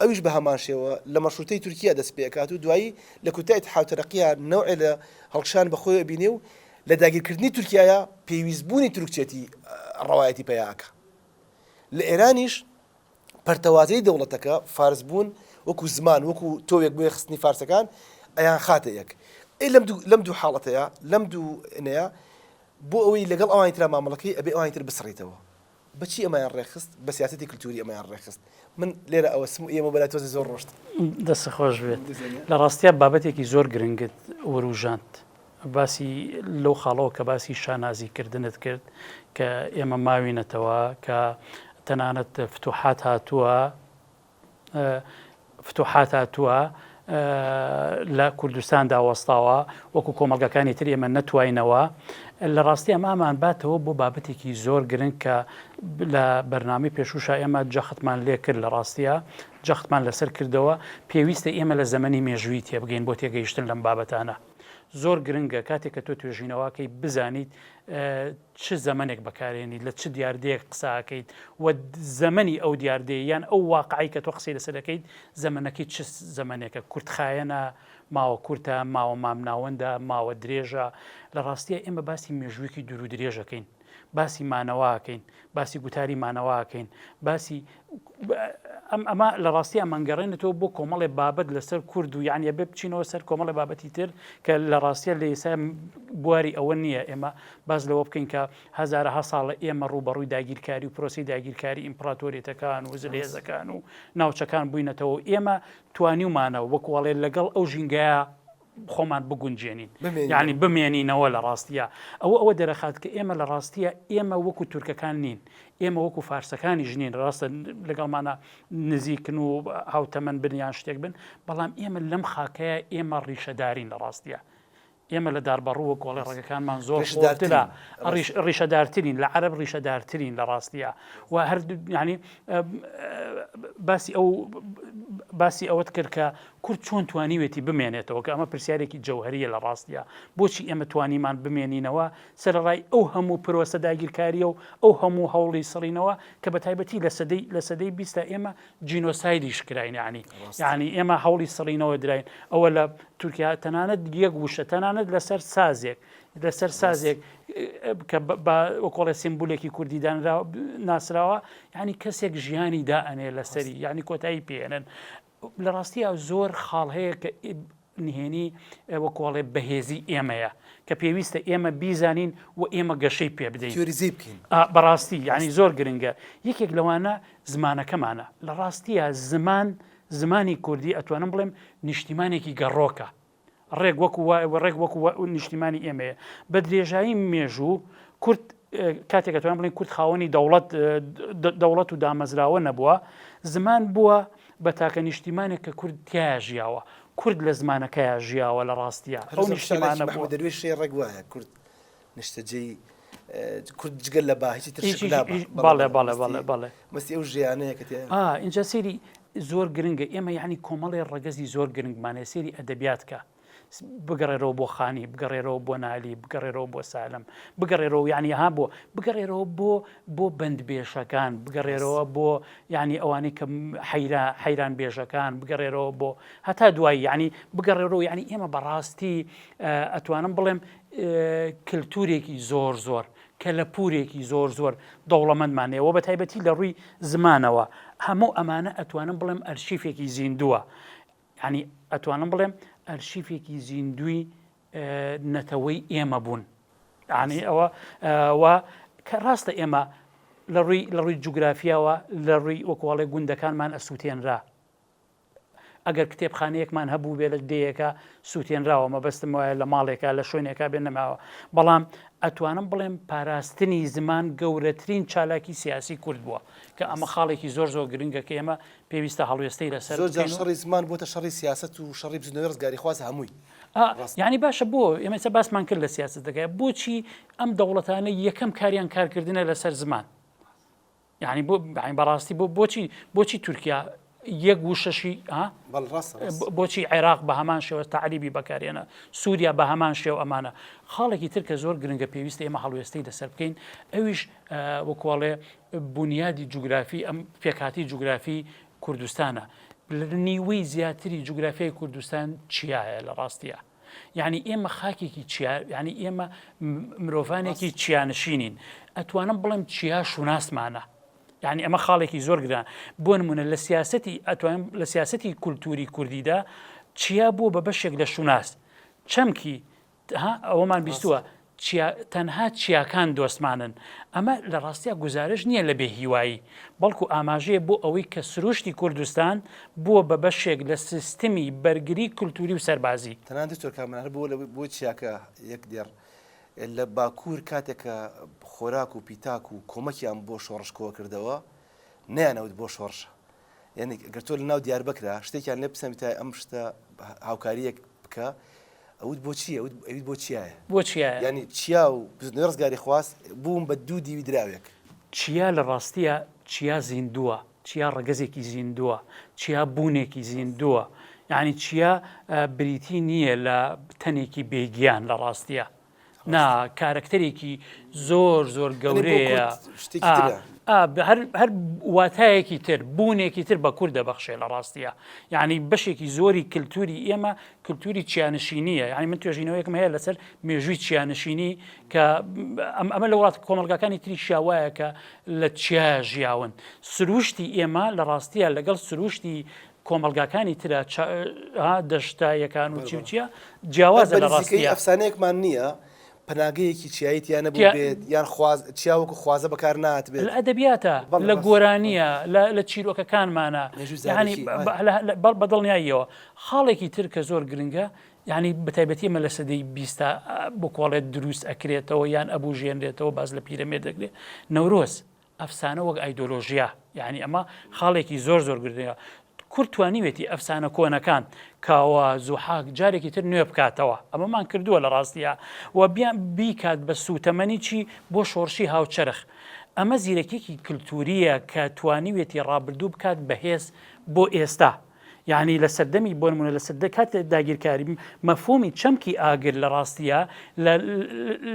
ئەویش بە هەمان شێوە لە مەشروتەی تورکیا دەست پێ ئەکات و دوایی لە کورتای اتحاد و ترقیا نەوعێ لە هەڵکشان بە خۆی ئەبینێ و لە داگیر کردنی تورکیایا پێویست بوونی تورکچێتی ڕەوایەتی پەیا ئەکا. لە ئێرانیش پەرتەوازەی دەوڵەتەکە فارس بوون وەکوو زمان وەکوو تۆوێک بۆ یەکخستنی فارسەکان ئەیان خاتە یەک. ئەی لەم دوو لەم دوو حاڵەتەیا لەم دوو نەیا بۆ ئەوەی لەگەڵ ئەوانی ترا مامەڵەکەی ئەبێ ئەوانی تر بسڕیتەوە. بە چی ئەمەیان ڕێکخست؟ بە سیاسەتی کلتووری ئەمەیان ڕێکخست. من لێرە ئەوەستم و ئێمە بەلای تۆزێ زۆر ڕۆشتن. دەستت خۆش بێت. لە ڕاستیا بابەتێکی زۆر گرنگت ورووژاند. باسی لەو خاڵەوە کە باسی شانازیکردنت کرد کە ئێمە ماوینەتەوە، کە تەنانەت فتوحات هاتووە، فتوحات هاتووە لە کوردستاندا وەستاوە وەکو کۆمەلگەکانی تر ئێمە نەتوینەوە لە ڕاستی ئەم ئامان باتەوە بۆ بابەتێکی زۆر گرنگ کە لە بەرنامی پێشوشە ئێمە جەختمان لێ کرد لە ڕاستیە جەختمان لەسەر کردەوە پێویستە ئێمە لە زەمەنی مێژووی تێبگەین بۆ تێگەیشتن لەم بابەتانە زۆر گرنگە کاتێک کە تۆ توێژینەوەکەی بزانیت چ زەمەنێک بەکارێنیت، لە چ دیاردەیەک قسە ئەکەیت و زەمەنی ئەو دیاردەیە یان ئەو واقعەی کە تۆ قسەی لەسەر دەکەیت زەمەنەکەی چ زەمەنێکە، کورتخایەنە، ماوە کورتە، ماوە مامناوەندە، ماوە درێژە، لە ڕاستییا ئێمە باسی مێژوویەکی دوورودرێژ ئەکەین، باسی مانەوە ئەکەین، باسی گوتاری مانەوە ئەکەین، باسی ئەمە لە ڕاستی ئەمانگەڕێنێتەوە بۆ کۆمەڵێ بابەت لەسەر کورد و یعنی بێ بچینەوە سەر کۆمەڵی بابەتی تر کە لە ڕاستە لە ئێسا بواری ئەوە نییە ئێمە باز لەوە بکەین کە هزارەها ساڵە ئێمە ڕوبەڕووی داگیرکاری و پرۆسی داگیرکاری ئیمپراتۆریەتەکان و زلێزەکان و ناوچەکان بووینەتەوە ئێمە توانیومانە وەکوڵێ لەگەڵ ئەو ژینگەیە خۆمان بگونجێنین یعنی بمێنینەوە لە ڕاستیە ئەوە ئەوە دەرەخات کە ئێمە لە ڕاستیە ئێمە وەکو تورکەکان نین ئێمە وەکو فارسەکانی ژنین ڕاستە لەگەڵمانە نزیکن و هاوتەمەن بنیان شتێک بن بەڵام ئێمە لەم خاکەیە ئێمە ڕیشەدارین لە ڕاستیە ئێمە لە داربەڕووە گۆڵی ڕێگەکانمان زۆر شدارترا ڕیشەدارترین لە عرب ڕیشەدارترین لە ڕاستیە و هەردوو ینی باسی ئەو باسی ئەوەت کرد کە کورد چۆن توانیوێتی بمێنێتەوە کە ئەمە پرسیارێکی جەوهەرییە لە ڕاستییا؟ بۆچی ئێمە توانیمان بمێنینەوە سەرەڕای ئەو هەموو پرۆسە داگیرکارییە و ئەو هەموو هەوڵی سڕینەوە کە بە تایبەتی لە سەدەی لە سەدەی بیستا ئێمە جینۆسایدیش کراین یانی یانی ئێمە هەوڵی سڕینەوە دراین ئەوە لە تورکیا تەنانەت یەک وشە تەنانەت لەسەر سازێک لەسەر سازێک کە بە وەکۆڵێ سیمبولێکی کوردی دانرا ناسراوە یعنی کەسێک ژیانی دا ئەنێ لەسەری یعنی کۆتایی پێێنن لە ڕاستیا زۆر خاڵ هەیە کە نهێنی وەکۆڵێ بەهێزی ئێمەیە کە پێویستە ئێمە بیزانین و ئێمە گەشەی پێ بدەین بەڕاستی یعنی زۆر گرنگە یەکێک لەوانە زمانەکەمانە لە ڕاستیە زمان زمانی کوردی ئەتوانم بڵێم نیشتیمانێکی گەڕۆکە ڕێک وەکو وایە ڕێک وەکو نیشتیمانی ئێمەیە بە درێژایی مێژوو کورد کاتێکە توان بڵین کورد خاوەنی دەوڵەت دەوڵەت و دامەزراوە نەبووە زمان بووە بە تاکە نیشتیمانێک کە کورد تیا ژیاوە کورد لە زمانەکەیان ژیاوە لە ڕاستیە ئەو نیشتمانە دەروێشێ ڕێک وایە کورد نیشتەجێی کورد جگە لە با هیچی ترش هیچی- لا با. هیچ- بەڵێ، بەڵێ، بەڵێ، بەڵێ، بەڵێ، بەڵێ. مەستی ئەو ژیانەیە کە تێ ئا ئینجا سەیری زۆر گرنگە ئێمە یعنی کۆمەڵێ ڕەگەزی زۆر گرنگمانێ سەیری ئەدەبیات کە س- بگەڕێرەوە بۆ خانی بگەڕێرەوە بۆ نالی بگەڕێرەوە بۆ سالم بگەڕێرەوە یعنی ها بۆ بگەڕێرەوە بۆ بۆ بەند بێژەکان بگەڕێرەوە بۆ یعنی ئەوانەی کە م- حەیرا حەیران بێژەکان بگەڕێرەوە بۆ هەتا دوایی یعنی بگەڕێرەوە یعنی ئێمە بەڕاستی ئە- ئەتوانم بڵێم کلتورێکی زۆر زۆر کەلەپورێکی زۆر زۆر دەوڵەمەندمان هەیە وە بەتایبەتی لە ڕووی زمانەوە هەموو ئەمانە ئەتوانم بڵێم ئەرشیفێکی زیندووە ینی ئەتوانم بڵێم ئەرشیفێکی زیندوی نەتەوەی ئێمە بوون ینی ئەوە وا کە ڕاستە ئێمە لە ڕووی لە ڕووی جوگرافیاوە لە ڕووی وەکوڵێ گوندەکانمان ئەسووتێنرا ئەگەر کتێبخانەیەکمان هەبووبێ لە دێیەکە سووتێنراوە مەبەستم وایە لە ماڵێکە لە شوێنێکا بێ نەماوە بەڵام ئەتوانم بڵێم پاراستنی زمان گەورەترین چالاکی سیاسی کورد بووە کە ئەمە خاڵێکی زۆر زۆر گرنگە کە ئێمە پێویستە هەڵوێستەی لەسەر زۆر جار شەڕی زمان بۆتە شەڕی سیاست و شەڕی بزنەوەی ڕزگاری خواز هەمووی یعنی باشە بۆ ئێمەسە باسمان کرد لە سیاست دەکە بۆچی ئەم دەوڵەتانە یەکەم کاریان کارکردنە لەسەر زمان یانی بۆ بەین بەڕاستی بۆ بۆچی بۆچی تورکیا یەک وشەشی بۆچی عێراق بە هەمان شێوە تعریبی بەکارێنە سووریا بە هەمان شێو ئەمانە خاڵێکی تر کە زۆر گرنگە پێویست ئێمە هەڵوێستی لەسەر بکەین ئەویش وەکوڵێ بنیادی جوگرافی ئەم پێکاتی جوگرافی کوردستانە نیوەی زیاتری جوگرافیای کوردستان چیایە لە ڕاستیە یانی ئێمە خاکێکی چیا یانی ئێمە مرۆڤانێکی چیانشینین ئەتوانم بڵێم چیا شوناسمانە یعنی ئەمە خاڵێکی زۆر گران بۆ نمونە لە سیاستی ئەتوان لە سیاستی کولتوری کوردیدا چیا بووە بە بەشێک لە شوناس چەمکی ئەوەمان بیستووە چیا تەنها چیاکان دۆستمانن. ئەمە لە ڕاستیا گوزارش نییە لە بێ هیوایی، بەڵکو ئاماژەیە بۆ ئەوەی کە سروشتی کوردستان بووە بە بەشێک لە سیستمی بەرگری کولتووری و سەربازی. تەنانەت دکتۆر کامەران هەر بۆ لەوەی بۆ چیاکە یەک دێڕ لە باکوور کاتێک کە خۆراک و پیتاک و کۆمەکیان بۆ شۆڕش کۆکردەوە نەیانەوت بۆ شۆڕشە، یعنی گەر تۆ لە ناو دیار بکرا شتێکیان لێ بسەمیتای ئەم شتە هاوکاریەک بکە ئەوت بۆ چیە ئەویت بۆ چیایە بۆ چیە ینی چیا و ڕزگاری خواست بووم بە دوو دیوی دراوێک چیا لە ڕاستیە چیا زیندووە چیا ڕگەزێکی زیندووە چیا بوونێکی زیندووە یعنی چیا بریتی نییە لە تەنێکی بێگیان لە ڕاستیە نا کارەکتەرێکی زۆر زۆر گەورەیە هەر واتایەکی تر بوونێکی تر بە کورد دەبەخشێ لە ڕاستیە یعنی بەشێکی زۆری کللتوری ئێمە کللتوری چیانشینیە یعنی من توێژینەوەیەکم هەیە لەسەر مێژووی چیانشینی کە ئەم ئەمە لە وڵات کۆمەلگاکانی تری شاوایە کە لە چیا ژیاون سروشتی ئێمە لە ڕاستیە لەگەڵ سروشتی کۆمەڵگاکانی ترە دەشتا یەکان و چی و چیە جیاوازە لە ڕاستەکەی ئەفسانەیەکمان نییە پناگەیەکی چیایی تیانە بێت یان چیاوەکو خوازە بەکار ناتبێت لە ئەدەبیاتە لە گۆرانیە لە چیرۆکەکانمانە بەڵ بەدڵنیاییەوە خاڵێکی تر کە زۆر گرنگە ینی بەتایبەتی مە لە سەدەی بیستا بکۆڵێت دروست ئەکرێتەوە یان ئەبوو ژێنرێتەوە باز لە پیرەمێ دەکرێت نەورۆز ئەفسانە وەک ئایدۆلۆژیا یانی ئەمە خاڵێکی زۆر زۆر گردەیە کورد توانیوێتی ئەفسانە کۆنەکان کاوە زوحاک جارێکی تر نوێ بکاتەوە ئەمەمان کردووە لە ڕاستیە و بیان بیکات بە سووتەمەنی چی بۆ شۆڕشی هاوچەرخ ئەمە زیرەکێکی کللتوریە کە توانیوێتی ڕابردوو بکات بەهێز بۆ ئێستا یەعنی لە سەردەمی بۆ نموونە لە سەردە کاتی داگیرکاری مەفهوومی چەمکی ئاگر لە ڕاستییا لە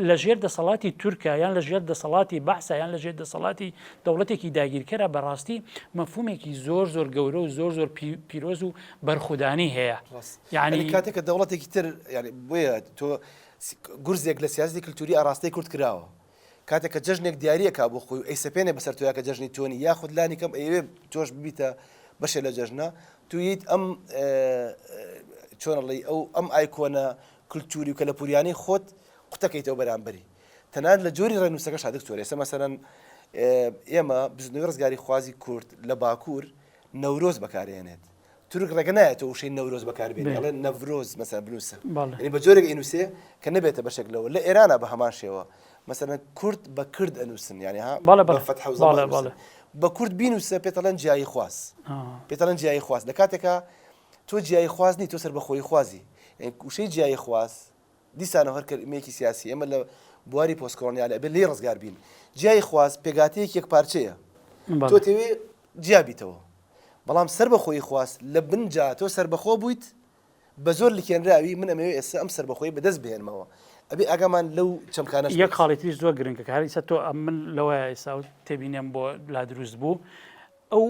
لە ژێر دەسەڵاتی تورکە یان لە ژێر دەسەڵاتی بەعسە یان لە ژێر دەسەڵاتی دەوڵەتێکی داگیرکەرە بە ڕاستی مەفهوومێکی زۆر زۆر گەورە و زۆر زۆر پیرۆز و بەرخودانی هەیە یعنی کاتێکە دەوڵەتێکی تر یعنی بۆیە تۆ گورزێک لە سیاستی کللتوری ئاراستەی کورد کراوە. کاتێک کە جەژنێک دیاری ئەکا بۆ خۆی و ئەیسەپێنێ بەسەر تۆیا کە جەژنی تۆ نی یاخود لانی کەم ئەیەوێ تۆش ببیتە بەشێ لە جەژنە تو یت ئەم چۆنەڵی ئەو ئەم ئایکۆنە کللتوری و کەلەپوریانەی خۆت قوتەکەیتەوە بەرامبەری تەنان لە جۆری ڕێنووسەکە شادک تۆرە ئێستا مەسەرەن ئێمە بزنەوەی ڕزگاری خوازی کورد لە باکوور نەورۆز بەکارێنێت تورک ڕێگە نایەتەوە وشەی نەورۆز بەکار بێنێ ئەڵێ نەڤرۆز مەسەلەن بنووسە یعنی بە جۆرێک ئەینووسێ کە نەبێتە بەشێک لەوە لە ئێرانە بە هەمان شێوە مەسەلەن کورد بە کرد ئەنووسن یعنی ها بە فەتحە و زەممە ئەنووسن بە کورد بینووسە پێت ئەڵێن جیاییخواز پێت ئەڵێن جیاییخواز لە کاتێکا تۆ جیاییخواز نیت تۆ سەربەخۆییخوازی یعنی وشەی جیاییخواز دیسانەوە هەر کەلمەیەکی سیاسی ئێمە لە بواری پۆست کۆڵۆنیالە ئەبێ لێی ڕزگار بین. جیای خواست پێکهاتەیەکی یەکپارچەیە. تۆ تەوێ جیا بیتەوە. بەڵام سەربەخۆیی خواست لە بن جا تۆ سەربەخۆ بوویت بە زۆر لکێنراوی من ئەمەوێ ئێستا ئەم سەربەخۆیی بەدەست بهێنمەوە. ئەبێ ئاگامان لەو چەمکانەش بێت. یەک خاڵی تریش زۆر گرنگە کە هەر ئیستا تۆ ئەم من لەوەیە ئیستا تێبینێم بۆ لا دروست بوو. ئەو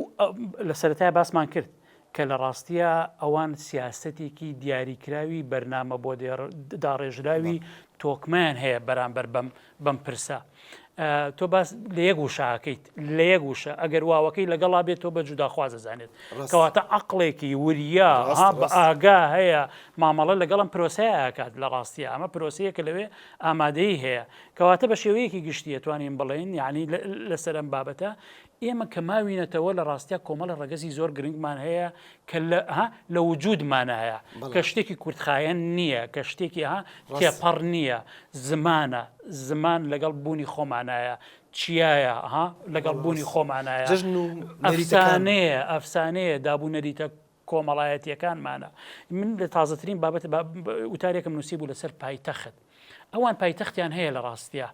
لە سەرەتای باسمان کرد کە لە ڕاستییا ئەوان سیاسەتێکی دیاریکراوی بەرنامە بۆ داڕێژراوی تۆکمەیان هەیە بەرامبەر بەم بەم پرسە. تۆ باس لە یەک وشاکەیت لە یەک وشە ئەگەر واوەکەی لەگەڵا بێت تۆ بە جوداخوازە زانێت کەواتە عقلێکی وریا بە ئاگا هەیە مامەڵە لەگەڵم پرۆسەیەکات لە ڕاستی ئەمە پرۆسەیە کە لەوێ ئامادەی هەیە کەواتە بە شێوەیەکی گشتیە توانین بڵێن یعنی لەسەرم بابەتە ئێمە کە ماوینەتەوە لە ڕاستیا کۆمەڵە ڕەگەزی زۆر گرنگمان هەیە کە لە وجودمان هەیە کە شتێکی کورتخایەن نییە کە شتێکی ها تێپەڕ نییە زمانە زمان لەگەڵ بوونی خۆمانایە چیایە ها لەگەڵ بوونی خۆمانایە ئەفسانەیە ئەفسانەیە دابوو نەریتە کۆمەڵایەتیەکانمانە من لە تازەترین بابەت وتارێکم نووسی بوو لەسەر پایتەخت ئەوان پایتەختیان هەیە لە ڕاستە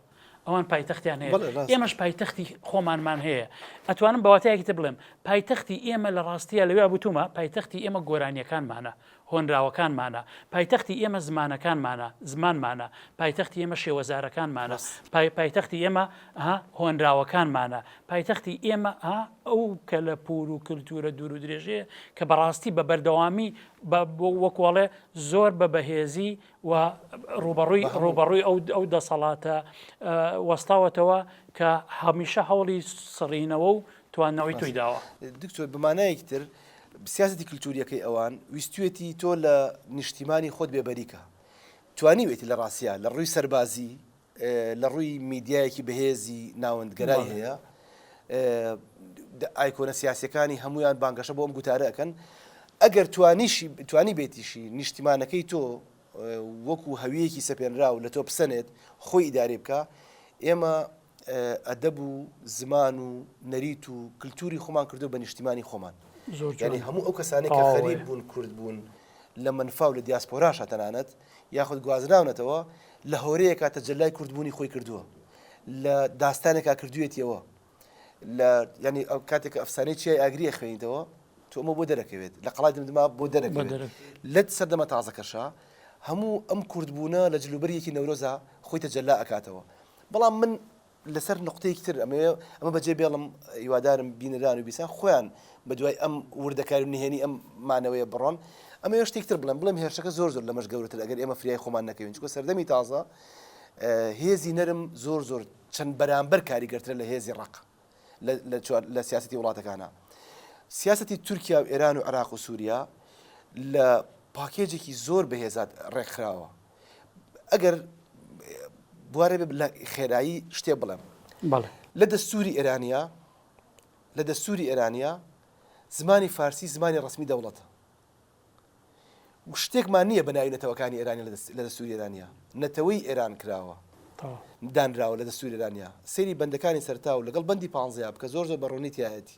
ئەوان پایتەختیان هەیە ئێمەش پایتەختی خۆمانمان هەیە ئەتوانم بەواتایەکی تر بڵێم پایتەختی ئێمە لە ڕاستە لەوێ بوتومە پایتەختی ئێمە گۆرانیەکانمانە هۆنراوەکانمانە پایتەختی ئێمە زمانەکانمانە زمانمانە پایتەختی ئێمە شێوەزارەکانمانە پای پایتەختی ئێمە هۆنراوەکانمانە پایتەختی ئێمە ئەو کەلەپوور و کلتوورە دوورودرێژەیە کە بەڕاستی بە بەردەوامی وەکو ئەڵێ زۆر بە بەهێزی و ڕوبەڕووی ڕوبەڕووی ئەو ئەو دەسەڵاتە وەستاوەتەوە کە هەمیشە هەوڵی سڕینەوە و توانەوەی توی داوە دکتۆر بمانایەکی تر سیاستی کللتوریەکەی ئەوان ویستێتی تۆ لە نیشتیمانی خۆت بێبەریکە توانیوێتی لە ڕاستە لە ڕووی سەربازی لە ڕووی میدیایەکی بەهێزی ناوەندگەرای هەیە. ئایکۆنە سیاسیەکانی هەموویان بانگەشە بۆ ئەم گوتارە ئەکەن. ئەگەر توانیشی توانیبێتیشی نیشتیمانەکەی تۆ وەکو هەویەکی سەپێنراو لە تۆ بسەنێت خۆی ئیدارەی بکا، ئێمە ئەدەب و زمان و نەریت و کلتوری خۆمان کردوە بە نیشتیمانی خۆمان. یانی هەموو ئەو کەسانەی کە غەریب بوون، کورد بوون، لە مەنفا و لە دیاسپۆراشا تەنانەت، یاخود گوازراونەتەوە لە هۆرەیەکا تەجەلای کوردبوونی خۆی کردووە لە داستانێکا کردوێتیەوە لە ینی ئەو کاتێک ئەفسانەی چیای ئاگری ئەخوێنیتەوە تۆ ئەمە بۆ دەرەکەوێت لە قەڵای دمدما بۆ دەرەکەوێت لەت سەردەمە تازەکەشە هەموو ئەم کوردبوونە لە جلوبەرێکی نەورۆزە خۆی تەجەلا ئەکاتەوە بەڵام من لەسەر نوقتەیەکی تر ئەمەوێ ئەمە بەجێ بێڵم هیوادارم بینەران و بیسان خۆیان بە دوای ئەم وردەکاری و نهێنی ئەم مانەوەیە بڕۆن ئەمەوێ شتێک تر بڵێم بڵێم هێرشەکە زۆر زۆر لەمەش گەورەتر ئەگەر ئێمە فریای خۆمان نەکەوین چونکە سەردەمی تازە هێزی نەرم زۆر زۆر چەند بەرامبەر کاریگەرترە لە هێزی ڕق لە سیاستی وڵاتەکانە سیاستی تورکیا و ئێران و عراق و سووریا لە پاکێجێکی زۆر بەهێزات ڕێکخراوە ئەگەر بوارێ لە خێرایی شتێ بڵێم لە دەستوری ئێرانیا لە دەستوری ئێرانیا زمانی فارسی زمانی ڕسمی دەوڵەتە شتێکمان نییە بەناوی نەتەوەکانی ئێرانی لە دەستوری ئێرانیا نەتەوەی ئێران کراوە دانراوە لە دەستوری ئێرانیا سری بەندەکانی سەرتا و لەگەڵ بەندی پانزیا بکە زۆر زۆر بەڕوونیتیایەتی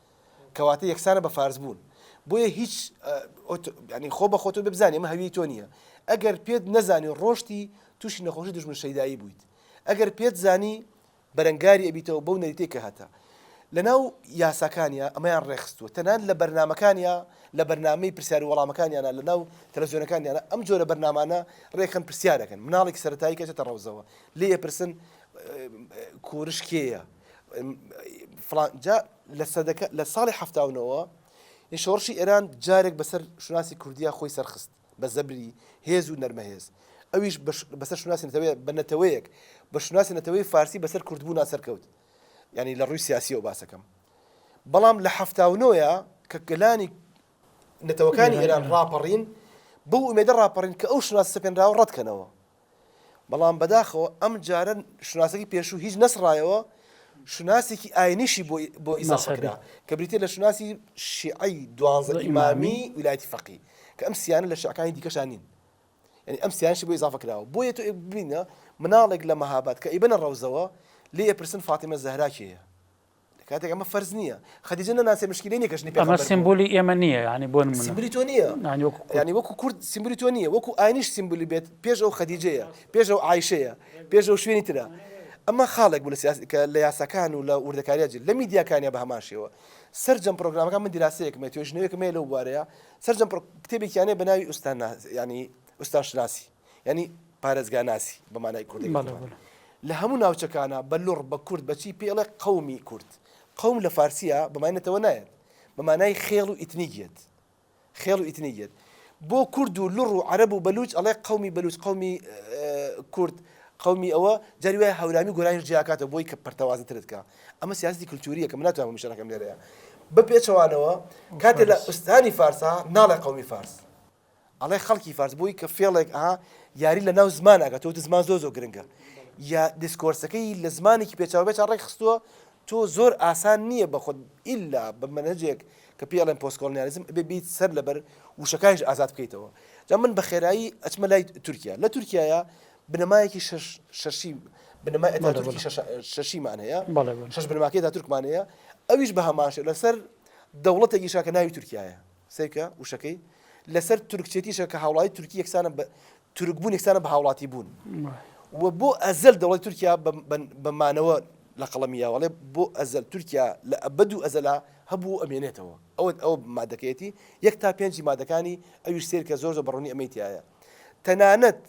کەواتە یەکسانە بە فارس بوون بۆیە هیچ یانی خۆ بە خۆتۆ بزانانی ئەمە هەویەی تۆ نییە ئەگەر پێت نەزانی ڕۆشتی تووشی نەخۆشی دژمن شەیدایی بوویت ئەگەر پێت زانی بەرەنگاری ئەبیتەوە بەو نەریتەی کە هەتە لەناو یاساکانیا ئەمەیان ڕێخستووە تەنان لە بەرنمەکانیا لە بەرنمەی پرسیار وەڵامەکانیانە لە ناو تەلەزیۆنەکانیانە ئەم جۆرە بەرنمانە ڕێکخن پرسیارەکەن مناڵێک سەتایی کەچێتە ڕەوزەوە لێ پرسن کورش کێە فڵان جا لە سەدەکە لە ساڵی حەفتا و نەوە یە شۆڕشی ئێران جارێک بەسەر شوناسی کوردیا خۆی سەرخست بە زەبری هێز و نەرمەهێز ئەویش بەش- بەسەر شوناسی نەتەوەیە بە نەتەوەیەک بە شوناسی نەتەوەی فارسی بەسەر کوردبوونا سەرکەوت یعنی لە ڕووی سیاسیەوە باسەکەم بەڵام لە حەفتا و نۆیە کە گەلانی نەتەوەکانی ئێران ڕاپەڕین بەو ئومێدە ڕاپەڕین کە ئەو شوناس سەپێنراوە ڕەتکەنەوە بەڵام بەداخەوە ئەم جارە شوناسەکەی پێشوو هیچ نەسڕایەوە شوناسێکی ئاینیشی بۆ ئیزافە کرا کە بریتە لە شوناسی شیعی دوانزە ئیمامی ویلایەتی فەقی کە ئەم سیانە لە شعکانی دیکەشان نین یعنی ئەم سیانشی بۆ ئیزافە کراوە بۆیە تو ببینە مناڵێک لە مەهابات کە ئیبنە ڕەوزەوە لێ پرسن فاتیمە زەهرا کێیە کاتێک ئەمە فەرز نییە خەدیجە نەناسێ مشکلی نیە کەژنی پێ سیمبولی ئێمە نییە ینی بۆ سیمبلی تۆ نییە ینی وەکو کورد سیمبلی تۆ نییە وەکو ئاینیش سیمبلی بێت پێش ئەو خەدیجەیە پێش ئەو عیشەیە پێش ئەو شوێنی ترە ئەمە خاڵێک بوو کە لە یاساکان و لە وردەکاریە جل لە میدیاکانیا بە هەماشەوە سرجەم پرۆگرامەکان من دیراسەیەکمە توێژنەوەیەکمێ لەو بوارەیە سرجەم کتێبێکیانێ بە ناوی ئوستان ینی ئوستان شناسی یانی پارێزگاناسی بە مانای کوردی لە هەموو ناوچەکانە بە لوڕ بە کورد بەچی پێڵێ قومی کورد قوم لە فارسیە بەمانێتەوە نایەت بە مانای خێڵ و ئیتنیگیت خێڵ و ئیتنیگیت بۆ کورد و لڕ و عەرب و بەلوچ ئەڵێ قومی بەلوچ قومی کورد قومی ئەوە جاری وای هەورامی گۆرانی جیاکاتە بۆی کە پرتەوازە ترتکە ئەمە سیاستی کللتوریە کە مناتوان مشارەکەم لێرەیە بە پێچەوانەوە کاتێ لە ئوستانی فارسا ناڵێ قومی فارس ئەڵێ خەڵکی فارس بۆی کە فێڵێک ئەها یاری لە ناو زمان ئەگە تۆ زمان زۆ زۆ گرنگە یا دیسکۆرسەکەی لە زمانێکی پێچاوبێت ڕێک خستووە تۆ زۆر ئاسان نییە بە خۆت ئللا بە منەجێک کە پێڵێن پۆستکۆڵنیالیزم بێ بیت سەر لەبەر وشەکانش ئازاد بکەیتەوە جا من بە خێرایی ئەچمە لای تورکیا لە تورکایە بنەمایەکی شەشی بنەمای ئەتاتورکی شەشیمان هەیە شەش بنەماکەی دا تورکمانەیە ئەویش بە هەماشە لەسەر دەوڵەتێکیشا کە ناوی تورکایە سەیرکە وشەکەی لەسەر تورکچێتیشە کە هاوڵاتی تورکی یەکسانە بە تورک بوون یەکسانە بە هاوڵاتی بوون و بۆ ئەزەل دەوڵەتی تورکیا بە مانەوە لە قەڵەمییاوەڵێ بۆ ئەزەل تورکیا لە ئەبد و ئەزەلا هەبوو ئەمێنێتەوە ئەوە ئەو مادەکەیەتی یەک تا پێنجی مادەکانی ئەویش سێرکە زۆر زۆر بەڕوونی ئەمەی تایە تەنانەت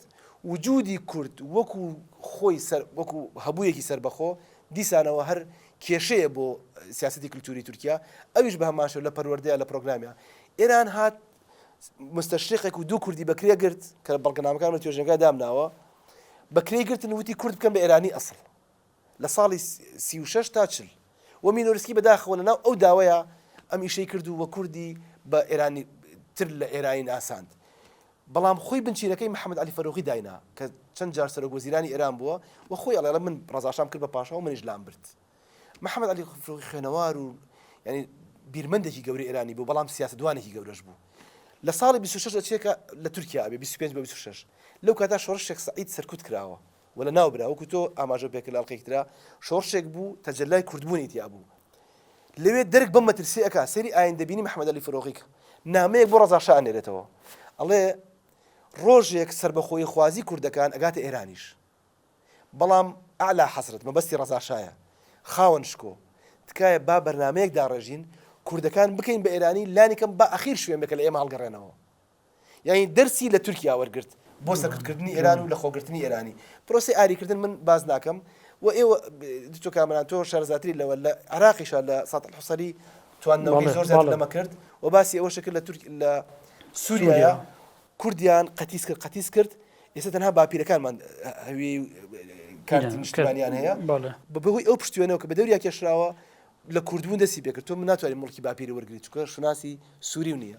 وجودی کورد وەکو خۆی سەر وەکو هەبوویەکی سربەخۆ دیسانەوە هەر کێشەیە بۆ سیاسەتی کلتوری تورکیا ئەویش بە هەمان شێوە لە پەروەردەیە لە پرۆگرامیا ئێران هات مستەشریقێک و دوو کوردی بەکرێ گرت کە بەڵگەنامەکان لە توێژنگای دامناوە بەکرێ گرتن وتی کورد بکەم بە ئێرانی ئەسڵ لە ساڵی 36 تا چل و مینۆرسکی بەداخەوە لە ناو ئەو داوەیە ئەم ئیشەی کرد و وە کوردی بە ئێرانی تر لە ئێرانی ناساند بەڵام خۆی بنچینەکەی محەمەد عەلی فەروغی داینا کە چەند جار سەرۆک وەزیرانی ئێران بووە و خۆی ئەڵێ من ڕەزا شام کرد بە پاشا و منیش لامبرد. محەمەد عەلی فەروغی خوێنەوار و یانی بیرمەندێکی گەورەی ئێرانی بوو بەڵام سیاسەتوانێکی گەورەش بوو. لە ساڵی بیست و شەش ئەچێ کە لە تورکیا ئەبێ بیست و پێنج بۆ بیست و شەش لەو کاتە شۆڕش شێخ سەعید سەرکوت کراوە. وەلا نا برا وەکو تۆ ئاماژەو پێکرد لە ئەڵقەیەکی ترا شۆڕشێک بوو تەجەلای کوردبوونی تیا بوو لەوێ دەرک بەم مەترسیە ئەکا سەیری ئایندە بینی محمد علی فروغی کە نامەیەک بۆ ڕەزا شا ئەنێرێتەوە ئەڵێ ڕۆژێک سربەخۆیی خوازی کوردەکان ئەگاتە ئێرانیش بەڵام ئەعلا حەزرەت مەبەستی ڕەزا شایە خاوەن شکۆ تکایە با بەرنامەیەک داڕێژین کوردەکان بکەین بە ئێرانی لانی کەم با ئەخیر شوێن بێ کە لە ئێمە هەڵگەڕێنەوە یانی دەرسی لە تورکیا وەرگرت بۆ سەرکوتکردنی ئێران و لەخۆگرتنی ئێرانی. پرۆسەی ئاریکردن من باس ناکەم و ئێوە دکتۆر کامەران تۆ شارەزاتری لەوە لە عێراقیشا لە ساتڵ حوسەری تواندنەوەکەی زۆر زیاتر لەمە کرد و باسی ئەوەش کرد لە تورک لە سوریایە کوردیان قەتیس کرد قەتیس کرد ئێستا تەنها باپیرەکانمان هەوی کارتی نیشتمانیان هەیە بە بەهۆی ئەو پشتێنەوە کە بە دەوریا کێشراوە لە کوردبوون دەستی پێکرد تۆ من ناتوانانی مڵکی باپیری وەرگری چکە شناسی سووری و نییە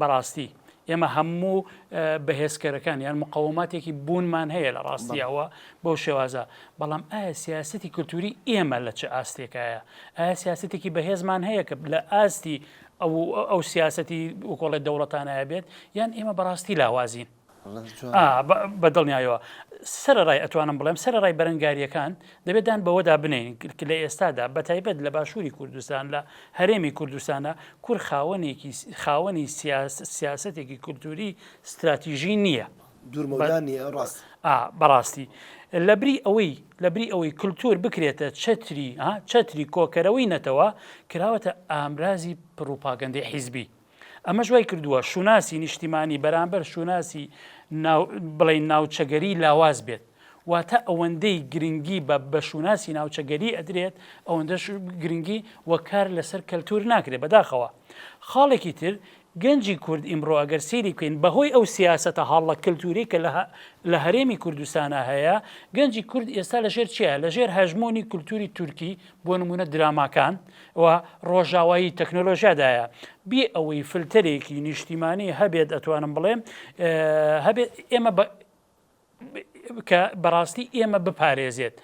بەڕاستی ئێمە هەموو بەهێزکەرەکان یان مقەوماتێکی بوونمان هەیە لە ڕاستیەوە بەو شێوازە بەڵام ئایا سیاستی کللتوری ئێمە لە چ ئاستێکایە ئایا سیاستێکی بەهێزمان هەیە کە لە ئاستی ئەو ئەو سیاستی وکۆڵێت دەوڵەتانایە بێت یان ئێمە بەڕاستی لاوازین بە دڵنیایەوە سەرەڕای ئەتوانم بڵێم سەرەڕای بەرەنگارییەکان دەبێت دان بەوەدا بنین کە لە ئێستادا بە تایبەت لە باشووری کوردستان لە هەرێمی کوردستانە کور خاوەنێکی خاوەنی سیاستێکی کولتوری ستراتیژی نییە بەڕاستی لە بری ئەوەی لە بری ئەوەی کللتور بکرێتە چتری چتری کۆکەرەوەی نەتەوە کراوەتە ئامرازی پڕوپاگەندی حیزبی ئەمەش وای کردووە شوناسی نیشتیمانی بەرامبەر شوناسی بڵین ناوچەگەری لاواز بێت واتە ئەوەندەی گرنگی بە بە شوناسی ناوچەگەری ئەدرێت ئەوەندە گرنگی وەکار لەسەر کەلتور ناکرێت بەداخەوە خاڵێکی تر گەنجی کورد ئیمڕۆ ئەگەر سیری بکەین بەهۆی ئەو سیاستە هاڵڵە کەلتوری کە لە هەرێمی کوردستانە هەیە گەنجی کورد ئێستا لەژێر چیە لەژێر هەژمۆنی کولتوری تورکی بۆ نموونە دراماکان و ڕۆژاوایی تەکنۆلۆژیادایە بێ ئەوەی فلتەرێکی نیشتیمانی هەبێت ئەتوانم بڵێم هەبێت ئێمە کە بەڕاستی ئێمە بپارێزێت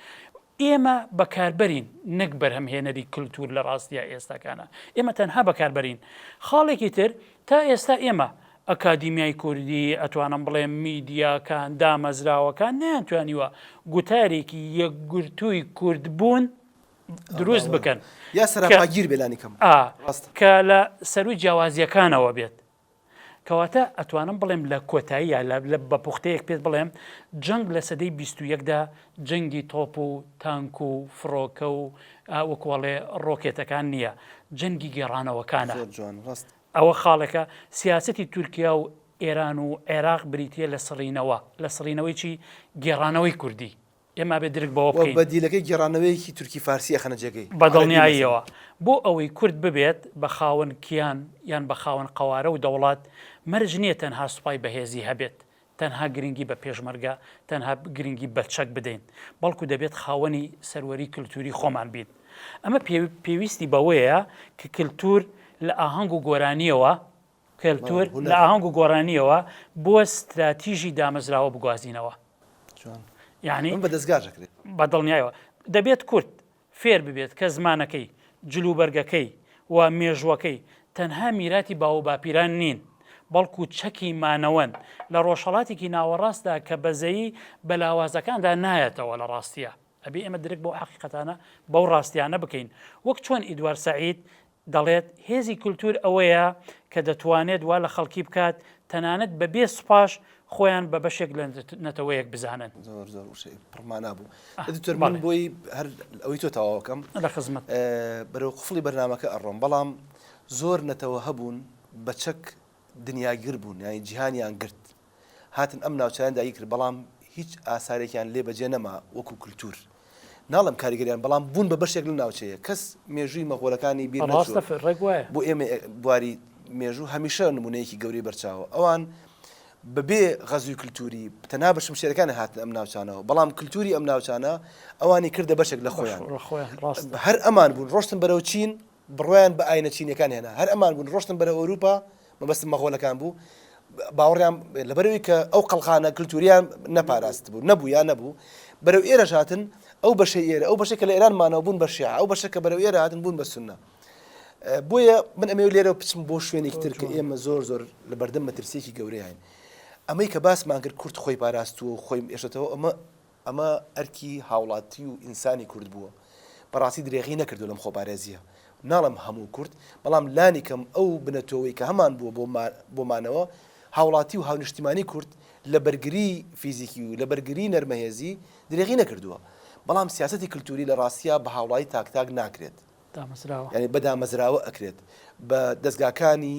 ئێمە بەکاربەرین نەک بەرهەمهێنەری کللتور لە ڕاستە ئێستاکانە ئێمە تەنها بەکاربەرین خاڵێکی تر تا ئێستا ئێمە ئەکادیمیای کوردی، ئەتوانم بڵێم میدیاکان، دامەزراوەکان نەیانتوانیوە گوتارێکی یەکگرتووی کوردبوون دروست بکەن کە لە سەرووی جیاوازییەکانەوە بێت. کەواتە ئەتوانم بڵێم لە کۆتاییە لە بە پوختەیەک پێت بڵێم جەنگ لە سەدەی بیست و یەکدا جەنگی تۆپ و تانک و فڕۆکە و وەکوڵێ ڕۆکێتەکان نییە جەنگی گێڕانەوەکانە. ئەوە خاڵێکە، سیاسەتی تورکیا و ئێران و عێراق بریتییە لە سڕینەوە، لە سڕینەوەی چی؟ گێڕانەوەی کوردی. ئێمە ئەبێ درک بەوە و بکەین. بەدیلەکەی گێڕانەوەیەکی تورکی-فارسی ئەخەنە جێگەی عەرەبی مەسەلەن. بەدڵنیاییەوە بۆ ئەوەی کورد ببێت بە خاوەن کیان یان بە خاوەن قەوارە و دەوڵەت، مەرج نییە تەنها سوپای بەهێزی هەبێت، تەنها گرنگی بە پێشمەرگە، تەنها گرنگی بە چەک بدەین، بەڵکو دەبێت خاوەنی سەروەری کلتوری خۆمان بین. ئەمە پێویستی بەوەیە کە کلتور لە ئاهەنگ و گۆرانییەوە، کلتور لە ئاهەنگ و گۆرانییەوە بۆ ستراتیژی دامەزراوە بگوازینەوە. یانی بە دڵنیایەوە دەبێت کورد فێر ببێت کە زمانەکەی، جلوبەرگەکەی و مێژووەکەی تەنها میراتی باووباپیران نین، بەڵکو چەکی مانەوەن لە ڕۆژهەڵاتێکی ناوەڕاستدا کە بەزەیی بە لاوازەکاندا نایەتەوە لە ڕاستییا ئەبێ ئێمە درک بەو حەقیقەتانە بەو ڕاستیانە بکەین وەک چۆن ئیدوارد سەعید دەڵێت، هێزی کولتوور ئەوەیە کە دەتوانێت وا لە خەڵکی بکات تەنانەت بە بێ سوپاش خۆیان بە بەشێک لە نەتەوەیەک بزانن. زۆر زۆر وشەی پڕ مانا بوو. دکتۆر من بۆی هەر ئەوەی تۆ تەواو ئەکەم. لە خزمەت. بەرەو قفڵی بەرنامەکە ئەڕۆم بەڵام زۆر نەتەوە هەبوون بە چەک دنیاگر بوون یانی جیهانیان گرت هاتن ئەم ناوچانە داگیر کرد بەڵام هیچ ئاسارێکیان لێ بەجێ نەما وەکو کللتور ناڵم کاریگەریان بەڵام بوون بە بەشێک لە ناوچەیە کەس مێژووی مەغۆلەکانی بیر بۆ ئێمە بواری مێژوو هەمیشە نمونەیەکی گەوری بەرچاوە ئەوان بەبێ غەزوی کللتوری تەنا بەشم شێرەکانی هاتن ئەم ناوچانەوە بەڵام کللتوری ئەم ناوچانە ئەوانی کردە بەشێک لە خۆیان هەر ئەمان بوون ڕۆشتن بەرەو چین بڕوایان بە ئاینە چینیەکان هێنا هەر ئەمان بوون ڕۆشتن بەرەو ئەوروپا مەبەستم مەغۆلەکان بوو باوەڕیان لەبەرەوەی کە ئەو قەڵخانە کلتوریان نەپاراست بوو نەبوو یا نەبوو بەرەو ئێرەش هاتن ئەو بەشەی ئێرە ئەو بەشەکە لە ئێران مانەوە بوون بە شیعە ئەو بەشەکە بەرەو ئێرە هاتن بوون بە سوننە بۆیە من ئەمەوێت لێرە بچم بۆ شوێنێکی تر کە ئێمە زۆر زۆر لە بەردەم مەترسیەکی گەورەیان ئەمەی کە باسمان کرد کورد خۆی پاراستووە و خۆی ئێشتەوە ئەمە ئەمە ئەرکی هاوڵاتی و ئینسانی کورد بووە، بەڕاستی درێغی نەکردووە لەم خۆپارێزییە، ناڵێم هەموو کورد، بەڵام لانیکەم ئەو بنە تۆوەی کە هەمان بووە بۆ مانەوە، هاوڵاتی و هاونیشتیمانی کورد لە بەرگری فیزیکی و لە بەرگری نەرمەهێزی درێغی نەکردووە، بەڵام سیاسەتی کلتوری لە ڕاستیا بە هاوڵاتی تاک تاک ناکرێت، یانی بە دامەزراوە ئەکرێت، بە دەزگاکانی.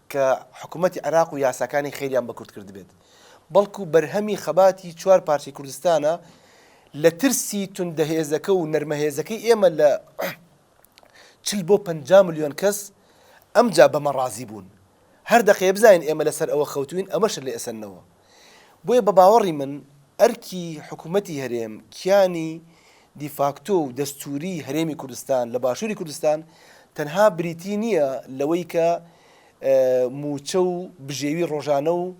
کە حکوومەتی عێراق و یاساکانی خێریان بە کورد کردبێت، بەڵکوو بەرهەمی خەباتی چوار پارچەی کوردستانە لە ترسی توندە هێزەکە و نەرمە هێزەکەی ئێمە لە چل بۆ پەنجا ملیۆن کەس ئەمجا بەمە ڕازی بوون هەر دەقەیە بزانین ئێمە لە سەر ئەوە خەوتووین ئەمەشە لێ ئەسەننەوە. بۆیە بە باوەڕی من ئەرکی حکوومەتی هەرێم کیانی دیفاکتۆ و دەستووریی هەرێمی کوردستان لە باشووری کوردستان تەنها بریتی نییە لەوەی کە مووچە و بژێوی ڕۆژانە و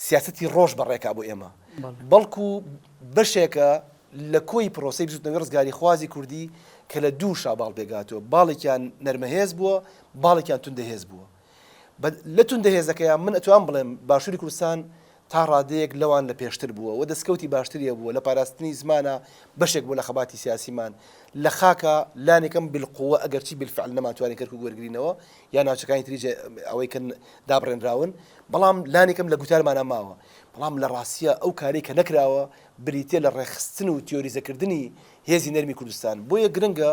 سیاسەتی ڕۆژ بەڕێکا بۆ ئێمە بەڵکو بەشێکە لە کۆی پرۆسی بزوتنەوەی ڕزگاریخوازی کوردی کە لە دوو شاباڵ پێگاتوە باڵێکیان نەرمەهێز بووە باڵێکیان توندەهێز بووە بە لە توندە هێزەکەیان من ئەتوام بڵێم باشوری کوردستان تا ڕادەیەک لەوان لە پێشتر بووە و دەسکەوتی باشتری هەبووە لە پاراستنی زمانە بەشێک بوو لە خەباتی سیاسیمان لە خاکە لانیکەم بالقوە ئەگەرچی بالفعل نەمانتوانی کەرکوک وەرگرینەوە یا ناوچەکانی تری جێ ئەوەی کە دابڕێنراون بەڵام لانیکەم لە گوتارمانە ماوە بەڵام لە ڕاستیە ئەو کارەی کە نەکراوە بریتیە لە ڕێکخستن و تیۆریزەکردنی هێزی نەرمی کوردستان بۆیە گرنگە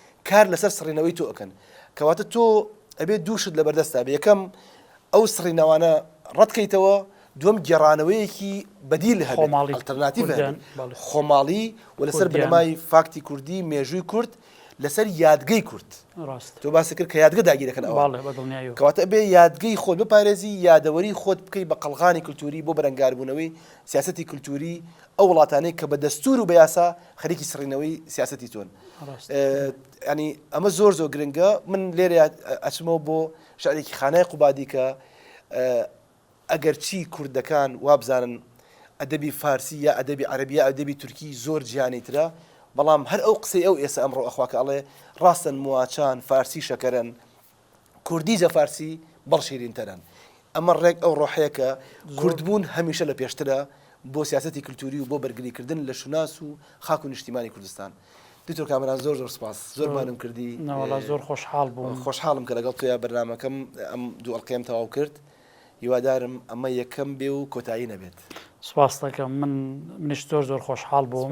کار لەسەر سڕینەوەی تۆ ئەکەن کەواتە تۆ ئەبێ دوو شت لەبەردەستا بێ یەکەم ئەو سڕینەوانە ڕەتکەیتەوە دوم گێڕانەوەیەکی بەدیل هەبێت خۆماڵی. ئەلتەرناتیڤ هەبێت. کوردیان، بەڵێ. خۆماڵی و لەسەر کوردیان. بنەمای فاکتی کوردی مێژووی کورد لەسەر یادگەی کورد ڕاستە تۆ باسی کرد کە یادگە داگیرەکەن ئەوان باڵێ بە دڵنیایەوە کەواتە ئەبێ یادگەی خۆت بپارێزی یادەوەری خۆت بکەی بە قەڵغانی کلتوری بۆ بەرەنگاربوونەوەی سیاسەتی کلتوری ئەو وڵاتانەی کە بە دەستور و بە یاسا خەریکی سڕینەوەی سیاسەتی تۆن ینی ئەمە زۆر زۆر گرنگە من لێرە ئەچمەوە بۆ شارێکی خانای قوبادی کە ئەگەر چی کوردەکان وابزانن ئەدەبی فارسی یا ئەدەبی عربیە ئەدەبی تورکی زۆر جیانی ترە بەڵام هەر ئەو قسەی ئەو ئێستا ئەمڕۆ ئەخواکە ئەڵێ ڕاستن مواچان فارسی شەکەرن کوردی جە فارسی بەڵ شیرین تەرن ئەمە ڕێک ئەو ڕۆحەیە کە کورد بوون هەمیشە لە پێشترە بۆ سیاسەتی کلتوری و بۆ بەرگری کردن لە شوناس و خاک و نیشتیمانی کوردستان دکتۆر کامەران زۆر زۆر سپاس زۆرمانم کردی ناوەڵا زۆر خۆشحاڵ بووم خۆشحاڵم کە لەگەڵ تویا بەرنمەکەم ئەم دوو ئەڵلقەیەم تەواو کرد هیوادارم ئەمە یەکەم بێ و کۆتایی نەبێت سپاستەکەم من منیش زۆر زۆر خۆشحاڵ بووم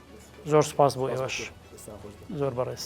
زۆر سپاس بۆ ئێوەش زۆر بەڕێز.